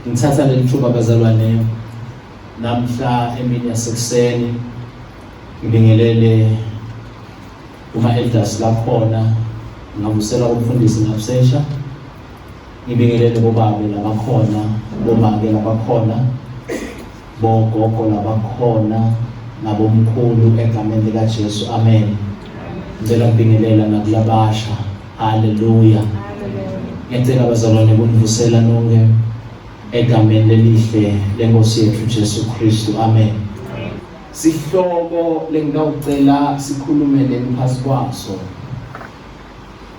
Ngithatha leli thuba bazalwane namhla emini yasekuseni ngibingelele uma elders lakhona ngavusela ukufundisa ngabusesha Ngibingelele bobabe labakhona, bomake labakhona, bogogo labakhona, nabomkhulu egameni likaJesu. Amen. Ngicela ukubingelela nakulabasha. Haleluya. Ngicela abazalwane kunivusela nonke egameni lelihle lenkosi yethu Jesu Kristu. Amen. Sihloko lengawucela sikhulume neni phasi kwaso.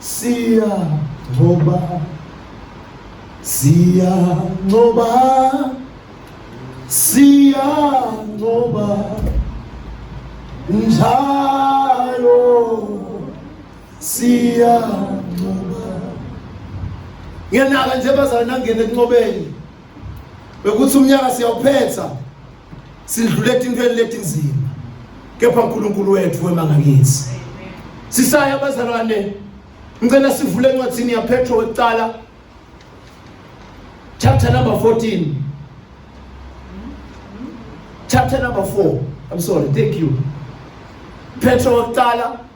Siya ngoba Siya ngoba Siya ngoba Njalo Siya ngoba Ngenaka nje bazana ngene kunqobeni bekuthi umnyaka siyawuphetha sidlule etintweni letinzima kepha uNkulunkulu wethu wemanga kithi sisaya abazalwane ngicela sivule encwadini yaPetro wekuqala chapter number 14 chapter number 4 I'm sorry thank you Petro wekuqala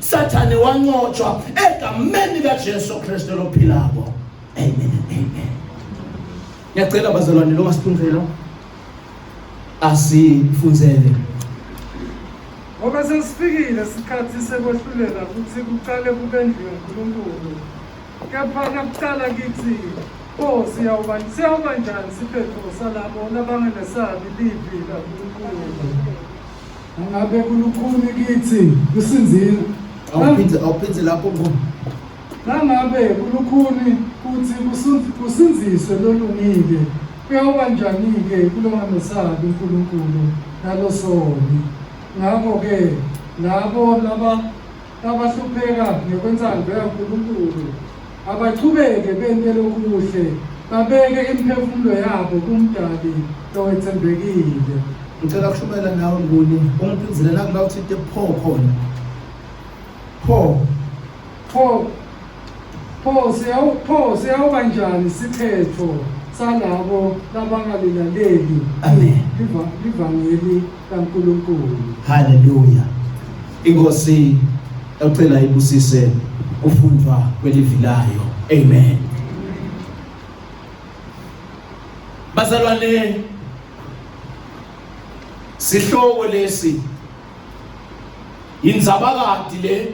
Sathane wanqotshwa egameni likaJesu Kristu lophilako. Amen and amen. Ngiyacela bazalwane lo masiphindelo asifunzele. Ngoba sesifikile isikhathi sekwehlulela ukuthi kuqale kubendlu yoNkulunkulu. Kepha nakuqala kithi Oh siyawuba siyawuba njani siphetho salabo labangenesabi livi laNkulunkulu. Angabe kulukhuni kithi kusinzile. Awuphinde awuphinde lapho ngo. Nangabe kulukhuni kuthi kusinziswe lolungile kuyoba njani-ke kulongamesabi uNkulunkulu nalosoni ngakho-ke labo laba Abahlupheka ngokwensango yaNkulunkulu abachubeke bentele okuhle, babeke imiphefumulo yabo kuMdali lowethembekile. Ngicela kushumayela nawe Nguni, ungiphindisele nakuba uthinte pho khona. Pho. Pho Pho siyawu pho siyawuba njani isiphetho salabo labangalilaleli Amen. liva- livangeli kaNkulunkulu. haleluya inkosi yacela ibusise kufundwa kwelivi layo amen bazalwane sihloko lesi yinzabakadi le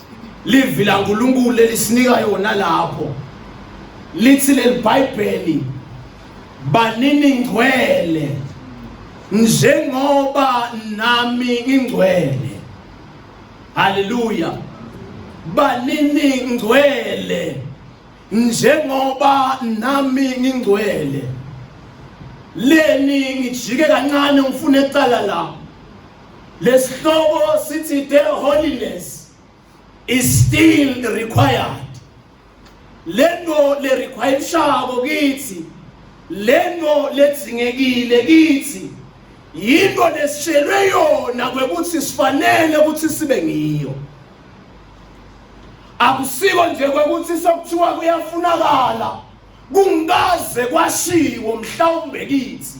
Livi la Nkulunkulu elisinika yona lapho lithi leli Bhayibheli banini ngcwele njengoba nami ngingcwele haleluya banini ngcwele njengoba nami ngingcwele leni ngijike kancane ngifune ecala la Lesihloko sithi the holiness is still required. Lento le require ishabo kithi. Lento ledzingekile kithi. Yinto lesishelwe yona kwekuthi sifanele ukuthi sibe ngiyo. Akusiko nje kwekuthi sokuthiwa kuyafunakala. Kungikaze kwashiwo mhlawumbe kithi.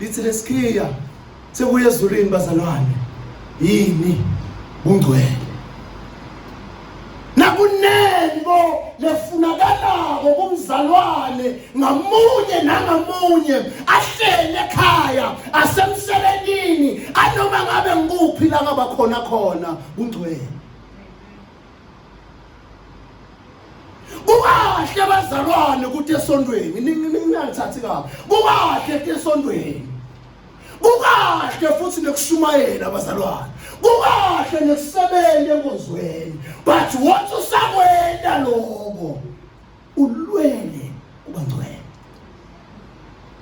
Lithi lesikhiya sekuye ezulwini bazalwane yini kungcwele nakunengo lefunakalako kumzalwane ngamunye nangamunye ahlele ekhaya asemsebenzini anoma ngabe ngikuphi la ngabakhona khona kungcwele kukahle bazalwane ukuthi esontweni ningangithathi kabi kukahle ukuthi esontweni kukahle futhi nekushumayela abazalwane kukahle nekusebenza enkonzweni but once usakwenda lokho ulwele ubangcwele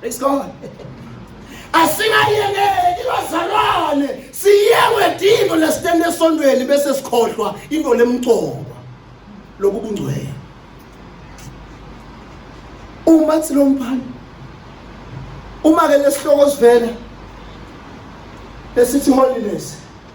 praise god asingayekeki bazalwane siyekwe dingo lesitende esondweni bese sikhohlwa into lemcoba lokubungcwele uma silomphala uma ke lesihloko sivela esithi holiness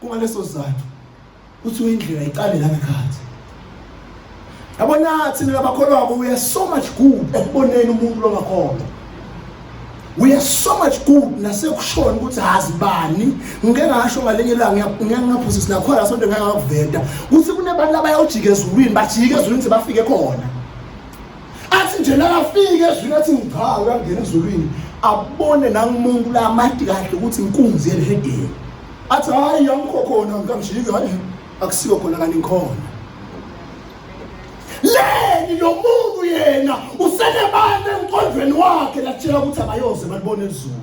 Kungaleso sizathu kuthiwa indlela iqale la ngekhathi. Yabona thina labakholwako we are so much good ekuboneni umuntu longakholwa. We are so much good nasekushona ukuthi hazi bani ngike ngasho ngalenye ilanga ngiyangaphosisa nakhona sonto ngangakuveta ukuthi kunebantu abayojika ezulwini bajike ezulwini sebafike khona. athi nje nakafika ezwini athi ngigcaa uyangena ezulwini abone nangumuntu la amadi kahle ukuthi inkunzi yelihedeni athi hhayi angikho khona ngikamshiki hhayi akusiko khona kanti ngikhona leni lo muntu yena usenebani emqondweni wakhe lakutshela ukuthi abayoze balibone ezulu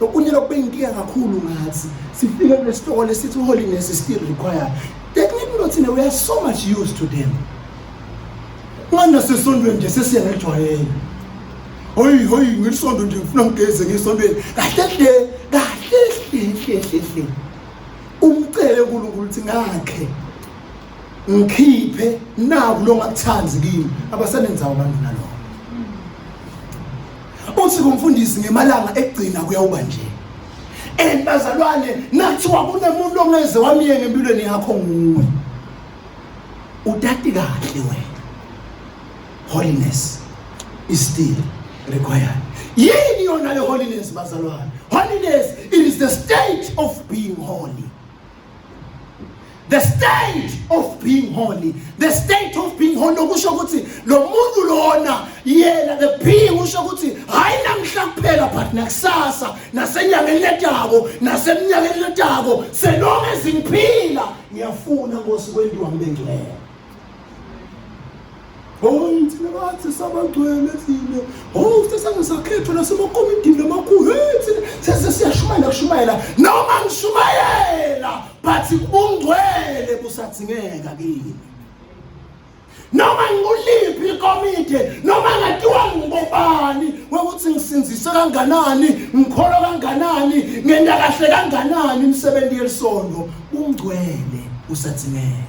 Okunye lokube inkinga kakhulu ngathi sifike kule store lesithi holiness is still required. That means not in a way so much used to them. Ngana sesontweni nje sesiyangejwayela. Hoyi hoyi ngisonto nje ngifuna ngigeze ngisontweni. Kahle hle kahle hle hle hle. Umcele uNkulunkulu ukuthi ngakhe ngikhiphe naku lo ngakuthandi kimi abasenenzawo abantu nalokho uthi kumfundisi ngemalanga ekugcina kuyawuba nje and bazalwane nathiwa kunemuntu ongeze wamyenge empilweni yakho nguwe utati kahle wena holiness is still required yini yona le holiness bazalwane holiness it is the state of being holy the state of being holy the state of being holy okusho ukuthi lo muntu lona yena the being usho ukuthi hayi namhla kuphela but nakusasa nasenyangeni letako naseminyakeni letako selonge zingiphila ngiyafuna nkosi kwendiwa ngibengcwele Hoy thina bathi sabagcwele thina. Hoy sesake sakhethwa nasemakomidini amakhulu. Hey thina sese siyashumayela kushumayela noma ngishumayela but ubungcwele busadzingeka kini. Noma nguliphi ikomidi noma ngatiwa ngibobani ukuthi ngisinzise kanganani ngikholwa kanganani ngenda kahle kanganani imisebenzi yelisonto ungcwele usadzingeka.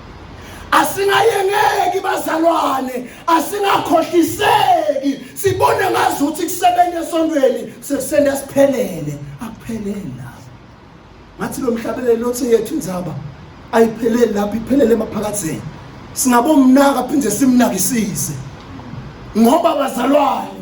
asingayengeki bazalwane asingakhohliseki sibone ngazi ukuthi kusebenza esontweni sekusenda siphelele akuphelele lapho ngathi lo mhlabeleli othi yethu inzaba ayipheleli lapho iphelele emaphakatheni singabomnaka phinde simnakisise ngoba bazalwane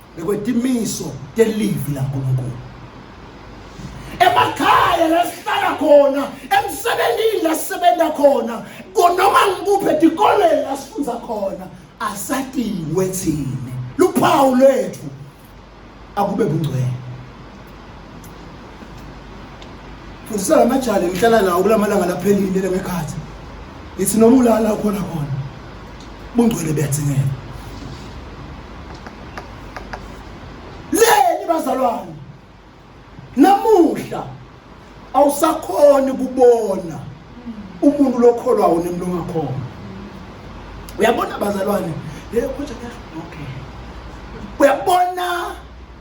bekwetimiso telivi laNkulunkulu emakhaya la sihlala khona emsebenzini la sisebenza khona konoma ngikuphi etikoleni la sifundza khona asatiwe thina luphawu lwethu akube bungcwele fundisa la majali ngihlala nawo kula malanga laphelile le ngekhathi ngithi noma ulala ukhona khona bungcwele buyadzingeka leni bazalwane namuhla awusakhoni kubona umuntu lokholwawo nemntu ongakhona uyabona bazalwane leyo khonja kuyahluka okay uyabona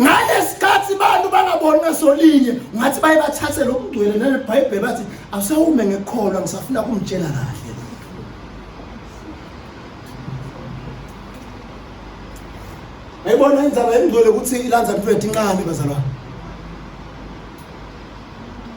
ngalesi abantu bangaboni ngasolinye ngathi baye bathathe lo mngcwele nelibhayibheli bathi awusawume ngekholwa ngisafuna kumtshela kahle ayibona indzaba yemngcwele ukuthi ilandza mfethu incane bazalwane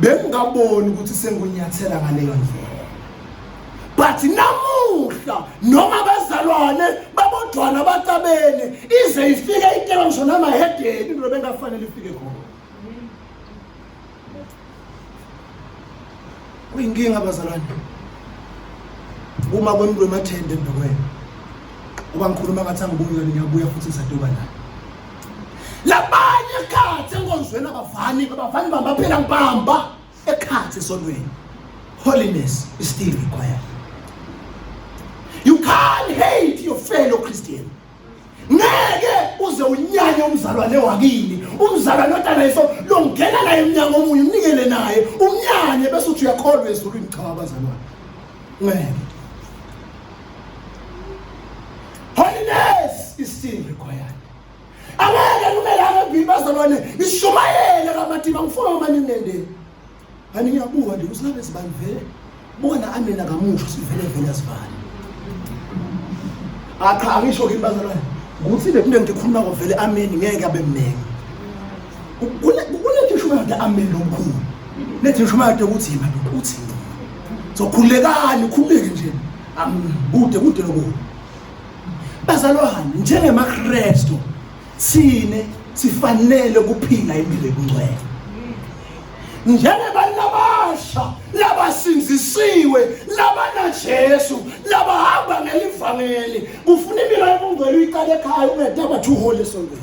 bengingaboni ukuthi sengunyathela ngaleyo ndlela but namuhla noma abazalwane babodwana batabene ize ifike iteka ngisho namahedeni into bengafanele ifike khona kuyinkinga abazalwane uma kwemntu emathende embekwena uba ngikhuluma ngathi angibuyi kanti ngiyabuya futhi ngisaduba naye labanye ekhathi enkonzweni abavani abavani bambaphela ngibamba ekhathi esonweni holiness is still required you can't hate your fellow christian ngeke uze unyanye umzalwane wakini umzalwane otanayiso longena naye emnyango omunye umnikele naye umnyanye bese uthi uyakholwa ezulwini cha abazalwane ngeke Holiness is still required. Angeke kube laba bhili bazobone ishumayele kamatiba ngifuna uma ninendeni. Ani ngiyabuka nje usingabe sibani vele. Bona amina kamusho sivele vele sibani. Acha angisho kimi bazalwane. Ukuthi le kunto engikhuluma ngo vele amini ngeke abe mningi. kulethe shumate amendo omkhulu lethe shumate ukuthi yena uthi so khulekani khuleke nje kude kude lokukhulu bazalwane njengemakristu sine sifanele ukuphila impilo ebungcwele njengabantu abasha labasinzisiwe labanajesu labahamba ngelivangeli kufuna impilo yobungcwele uyiqale ekhaya ungedaba two hole esontweni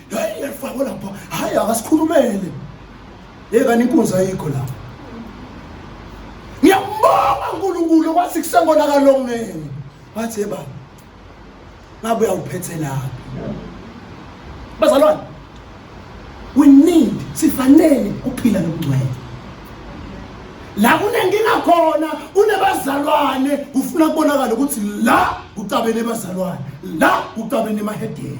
hayi yafakwa lapha hayi akasikhulumele hey kanti inkunzi ayikho lapha ngiyambonga uNkulunkulu wathi kusengonakalo ngene wathi hey baba ngabe uyawuphethe lapha bazalwane we need sifanele kuphila nokungcwele la kunenkinga khona kunebazalwane kufuna kubonakala ukuthi la kucabene bazalwane la kucabene emahedeni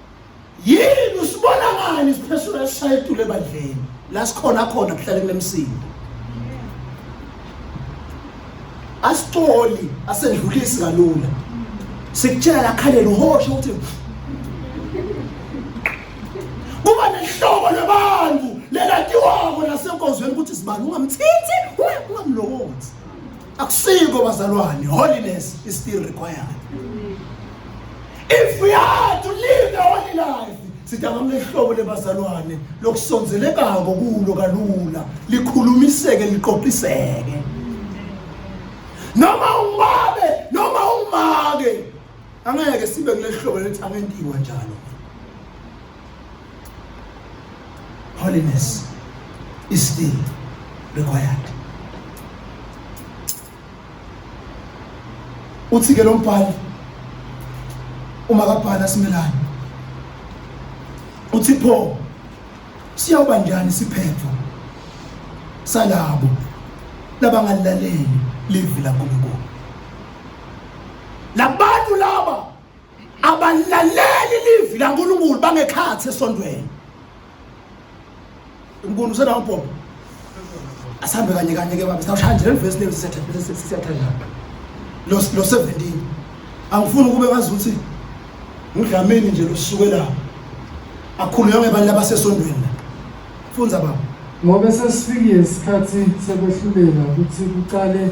yini usibona ngani siphesula esishaya etulo ebandleni la sikhona khona kuhlale kunemsindo asicoli asendlulisi kalula sikutshela lakhaleni uhoshe ukuthi kuba nehlobo labantu lelatiwako nasenkonzweni ukuthi sibani ungamthinti ungamlokothi akusiko bazalwane holiness is still required if we are to live the holy life sidakama ihlobo lebazalwane lokusonzelekako kulo kalula likhulumiseke liqoqiseke noma ungabe noma ungake angeke sibe kulehlobo lethi angentiwa njalo holiness is still required. Uthi-ke lo mbhali uma kabhala simelane uthi pho siyawuba njani siphepho salabo labangalilaleli livi laNkulunkulu labantu laba abalaleli livi lankulunkulu bangekhathi esondweni unkulunkulu usenawo bhobo asihambe kanye kanye ke baba sawushaya nje leli vesi lezi siyathandana lo lo 17 angifuni ukube wazi ukuthi ngudlamini nje losuke la akhuluywa ngebani labasesondweni la funza baba ngoba sesifikile isikhathi sekwehlulela ukuthi kuqale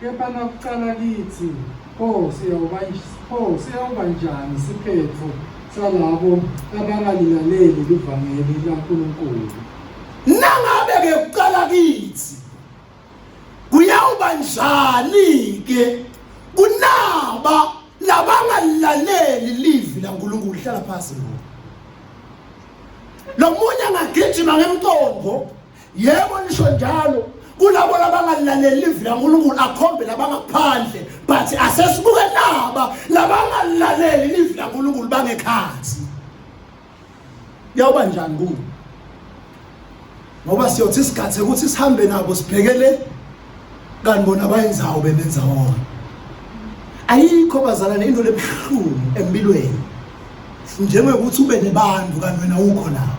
Kepha nakucala kithi, pho siyawuba pho siyawuba njani isiphetho salabo abangalilaleli livangeli laNkulunkulu? Nangabe ke kucala kithi kuyawuba njani ke kunaba labangalilaleli livi laNkulunkulu hlala phansi ngoba lomunye angagijima ngemcondvo yebo nisho njalo kulabo labangalaleli livi lankulunkulu akhombe labangaphandle but asesibuke naba labangalaleli livi lankulunkulu bangekhathi yawuba njani kuwo ngoba siyothi isikhathi ukuthi sihambe nabo sibhekele kanti bona bayenzawo bebenza wona ayikho bazalane into lebuhlungu empilweni njengokuthi ube nebantu kanti wena ukho nabo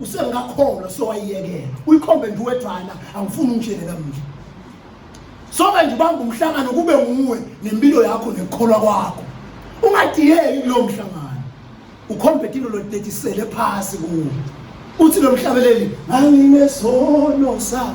usengakholwa sowayiyekela uyikhombe nje uwedwana angifuni ungitshele namnje soke nje ubamba umhlangano kube nguwe nempilo yakho nekukholwa kwakho ungadiyeki kulowo mhlangano ukhombe into lotetisele phasi kuwo uthi lo mhlabeleli anginesono sa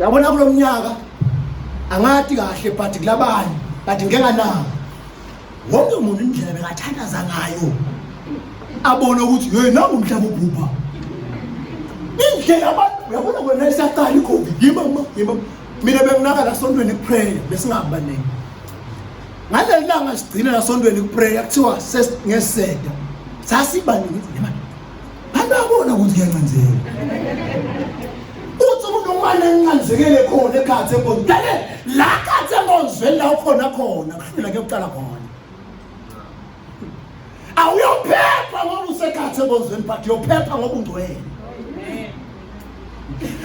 yabona kulo mnyaka angati kahle but kulabanye but ngeke nawo wonke umuntu indlela bekathandaza ngayo abone ukuthi hey nangu umhlaba ubhubha indlela abantu uyabona kwena isaqala ikhombi yima ma yima mina benginaka la sontweni kuprayer besingabaningi ngaleli langa sigcina la sontweni kuprayer kuthiwa ngeseda sasibaningi Anabona ukuthi kuyancenzeka. Uthi umuntu umane encanzekele khona ekhathi enkonzo. Dale la khathi enkonzweni la ukhona khona kuhlula kuyoqala khona. Awuyophepha ngoba usekhathi enkonzweni but uyophepha ngoba ungcwele.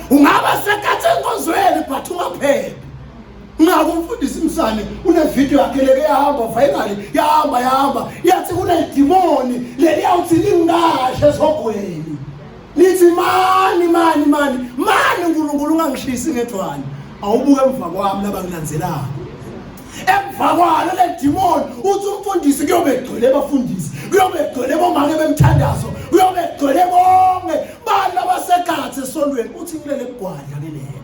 Ungaba sekhathi enkonzweni but ungaphephi. ngako umfundisi msane unevidiyo yakhe leke yahamba finally yahamba yahamba yathi kunedimoni leliyawuthi lingashe esogweni lithi mani mani mani mani unkulunkulu ungangishisi ngethwani awubuke emva kwami labangilandzelako emva kwalo le dimoni uthi umfundisi kuyobe egcwele abafundisi kuyobe egcwele bomake bemthandazo kuyobe egcwele bonke bantu abasekhathi esondweni uthi ngilele kugwadla ke lelo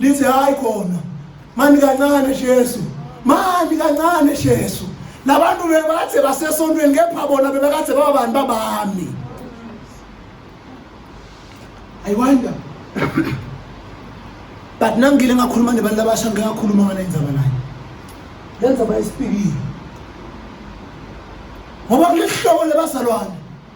lithi hayi khona mani kancane Jesu mani kancane Jesu labantu bebathe basesontweni kepha bona bebekade babani babami i wonder but nangile ngakhuluma nebantu abasha ngike ngakhuluma ngale ndzaba naye le ndzaba yesipikile ngoba kuleli hlobo lebazalwane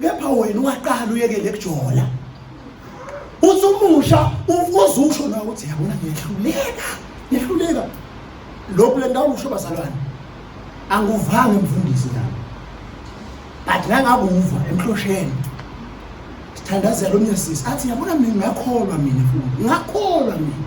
kepha wena waqala uyekele kujola usumusha uze usho nawe ukuthi yabona ngiyahluleka ngiyahluleka lokhu le ndawo usho bazalwane anguvanga emfundisi nami but nangakuva emhlosheni sithandazela omnye sisi athi yabona mina ngakholwa mina futhi ngakholwa mina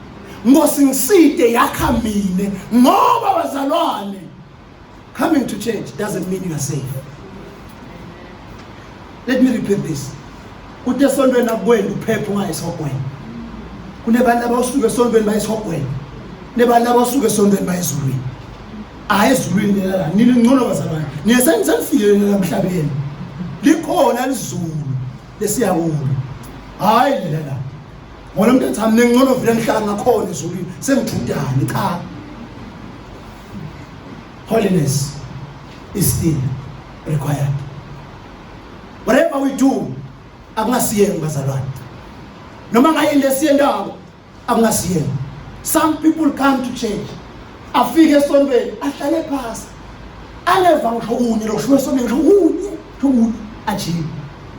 Nkosi ngiside yakha mina ngoba bazalwane coming to church doesn't mean you are safe. Let me repeat this. Uthi esontweni akukwenda uphephe ungayesihogweni. Kunebantu abasuke esontweni bayesihogweni. Nebantu abasuke esontweni bayezulwini. Hayi ezulwini lela la. Nini ngcono bazalwane. Nina senisenifile lela emhlabeni. Likhona lizulu lesiyakulo. Hayi lela la. Ngona mntatha mina ngcono vile ngihlala ngakhona ezulwini sengithundani cha. Holiness is still required. Whatever we do akungasiyeni bazalwane. Noma ngayini lesiyendako akungasiyeni. Some people come to church afike esontweni ahlale phasi angeva ngisho kunye lokushume esontweni ngisho kunye ngisho kunye ajime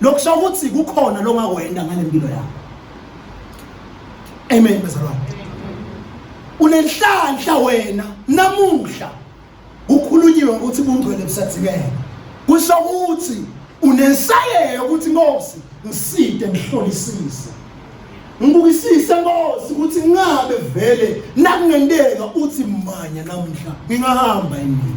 lokusho ukuthi kukhona longakwenda ngalempilo yakho amen bezalwane unenhlanhla wena namuhla ukhulunyiwe ukuthi bungcwele busadzingeke kusho ukuthi unensayeyo ukuthi Nkosi ngiside ngihlolisise ngibukisise Nkosi ukuthi ngabe vele nakungenteka uthi manya namhla ngingahamba yini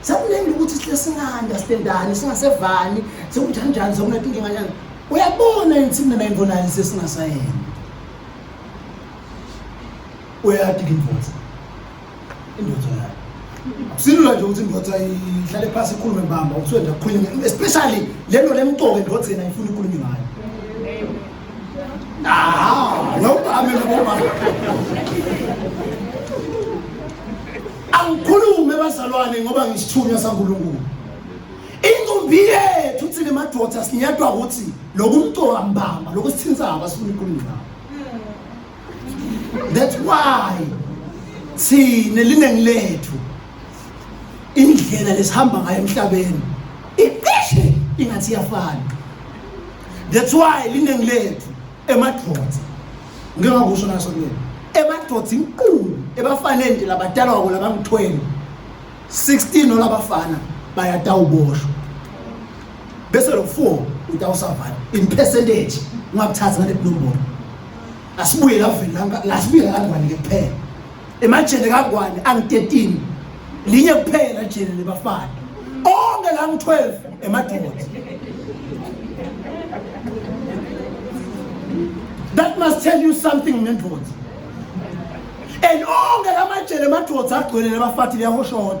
sekuningi ukuthi sile singanda sitendani singasevani sekunjani njani sekunetinkinga njani uyabona yini thina nayimbonayo sesingasayena uyati ke indoda indoda yayo silula nje ukuthi indoda ihlale phasi ikhulume mbamba ukuthi wenda kukhulunywe especially lento lemqoke indoda yena ifuna ikhulunywe ngayo angikhulume bazalwane ngoba ngisithunywa sankulunkulu inkumbi yethu thina madoda sinyedwa ukuthi loku mntu wambamba loku sithintsaba sifuna inkulumo that's why sine liningi lethu indlela lesihamba ngayo emhlabeni icishe ingathi iyafana that's why liningi lethu emadvodza ngike ngakusho naso mina emadvodza inkulu ebafanele nje labadala wabo labangu-12 16 nolabafana bayatawuboshwa bese lo mfo utawusavala in percentage ungakuthathi ngale blue ball asibuye la vele la la sibuye la ngwane kuphela emajele kangwane ang 13 linye kuphela jele lebafana onke la ngi 12 emadoda that must tell you something nendoda and onke la majele emadoda agcwele labafathi liyahoshona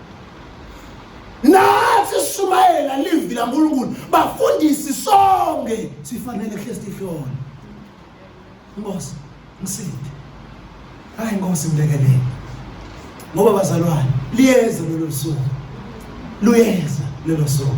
nathi sishumayela livi lankulunkulu bafundisi sonke sifanele hle sihlona nkosi ngisinde hayi nkosi ngilekelele ngoba bazalwane liyeza lelo suku luyeza lelo suku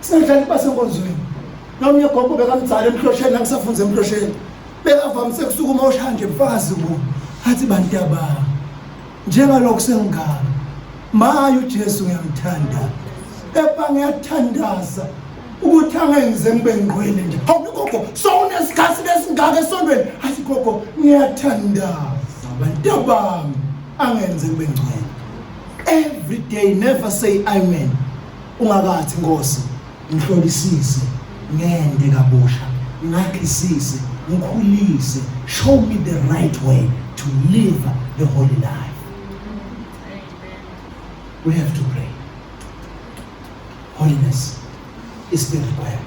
Sengidlali basenkonzweni. Nomnye gogo bekamdzala emhlosheni nangisafunza emhlosheni. Bekavamise kusukuma oshanje mfazi ku. Athi bantu yaba. Njengalokho sengigaba. Maye uJesu ngiyamthanda. Kepha ngiyathandaza ukuthi angenze ngibe ngqwele nje. Hawu gogo, sowunesikhathi lesingaka esondweni. Athi gogo, ngiyathandaza bantu yabami angenze ngibe ngqwele. Every day never say amen. Ungakathi Nkosi ngihlolisise ngende kabusha ngakhisise ngikhulise show me the right way to live the holy life we have to pray holiness is the required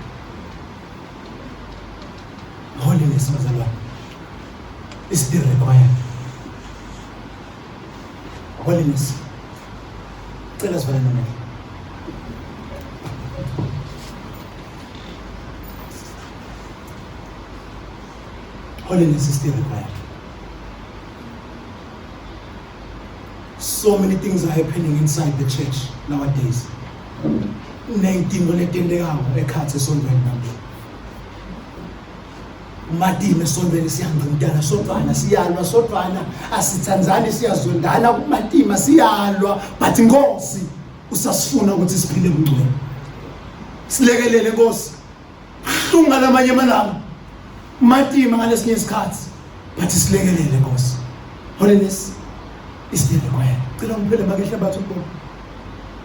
holiness bazalwane is the required Holiness. Cela sivale nomele. Holiness is still required. So many things are happening inside the church nowadays. Ney'dingo letentekayo ekhathi esontweni namhla. umatime esontweni siyangqintana sodwana siyalwa sodwana asithandzani siyazondana kumatima siyalwa but inkosi usasifuna ukuthi siphile kungcwele silekelele nkosi buhlungu ngalamanye amalanga umatima ngalesinye isikhathi but silekelele nkosi holiness is the required cela ngiphele makehle bathu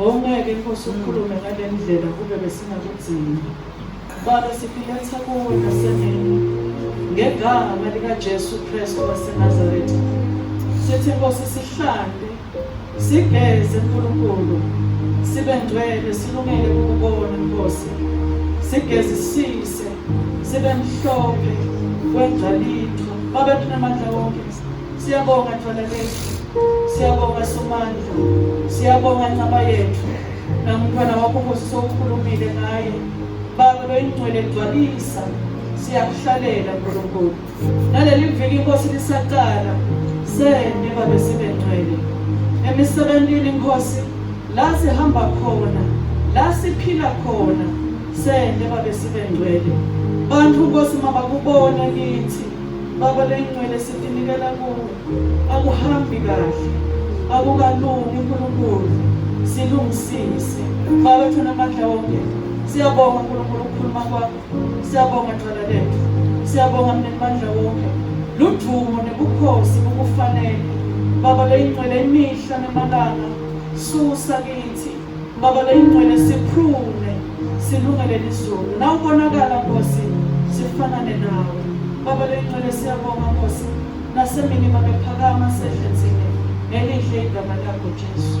Ngongeke Nkosi ukhulume ngale ndlela kube besingakudzingi. Baba sifiletha kuwe nasemini ngegama likaJesu Kristu waseNazaretha. Sithi Nkosi sihlande, sigeze Nkulunkulu, sibe ngcwele silungele ukubona Nkosi. Sigezisise sibe mhlophe kwengcalitho. Baba tunamandla wonke Siyabonga Thwala Lethu. Siyabonga Somandla. Siyabonga Ncaba Yethu. Namntwana wakho Nkosi sokhulumile ngaye. Baba loyingcwele gcwalisa. Siyakuhlalela Nkulunkulu. Naleli viki Nkosi lisaqala. Sende babe sibe ngcwele. Emisebenzini Nkosi la sihamba khona, la siphila khona. Sende babe sibe ngcwele. Bantu Nkosi mabakubone kithi. Baba lengcwele sitinikela kuwe akuhambi kahle akukalungi uNkulunkulu silungisise Baba thuna amandla wonke siyabonga uNkulunkulu ukukhuluma kwakho siyabonga cala lethu siyabonga mnenimandla wonke ludumo nebukhosi bukufanele Baba leyingcwele imihla nemalanga susa kithi Baba leyingcwele siphrume silungele lizulu na ubonakala Nkosi sifanane nawe Baba leyingcwele siyabonga Nkosi nasemini mabephakama sehle nzima ngelihle igama lakho Jesu